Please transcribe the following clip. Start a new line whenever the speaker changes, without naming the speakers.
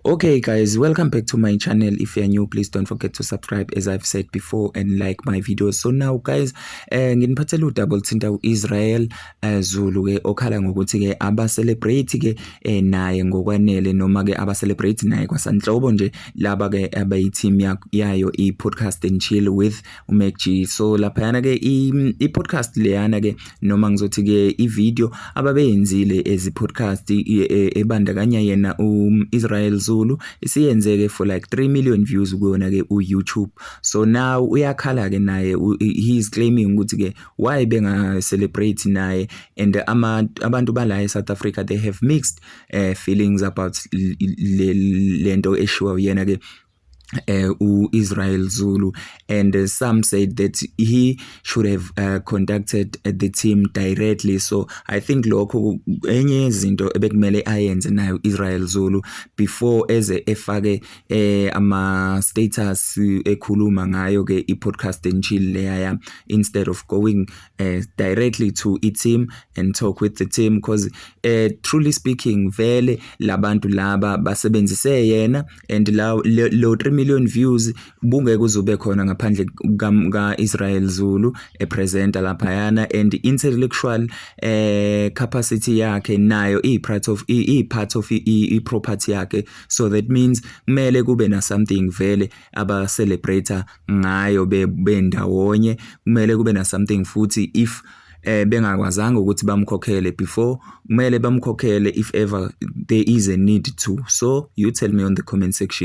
Okay guys, welcome back to my channel. If you're new, please don't forget to subscribe as I've said before and like my videos. So now guys, eh nginiphathele udouble thinta uIsrael eh, Zulu ke okhala ngokuthi ke aba celebrate ke eh, naye ngokwanele noma ke aba celebrate naye kwasanhlobo nje laba ke abayi team yayo i podcast and chill with uMacG so laphayana ke i-podcast leyana ke noma ngizothi ke i-video ababeyenzile ezi podcast e, e, ebandakanya yena u-Israel Zulu isiyenzeke for like 3 million views kuyona ke u-YouTube so now uyakhala ke naye he is claiming ukuthi ke why benga celebrate naye and ama abantu bala e-South Africa they have mixed uh, feelings about lento eshiwa uyena ke uh, u-Israel Zulu and uh, some said that he should have uh, contacted uh, the team directly so I think lokho enye izinto ebekumele ayenze nayo Israel Zulu before eze efake eh, ama status ekhuluma ngayo ke i podcast and chill leya instead of going uh, directly to i team and talk with the team because uh, truly speaking vele labantu laba basebenzise yena and la lo 3 million views bungeke uzube khona ngaphandle ka Israel Zulu e presenter lapha yana and intellectual eh capacity yakhe nayo i part of i part of i property yakhe so that means kumele kube na something vele aba celebrator ngayo bendawonye kumele kube na something futhi if eh bengakwazanga ukuthi bamkhokhele before kumele bamkhokhele if ever there is a need to so you tell me on the comment section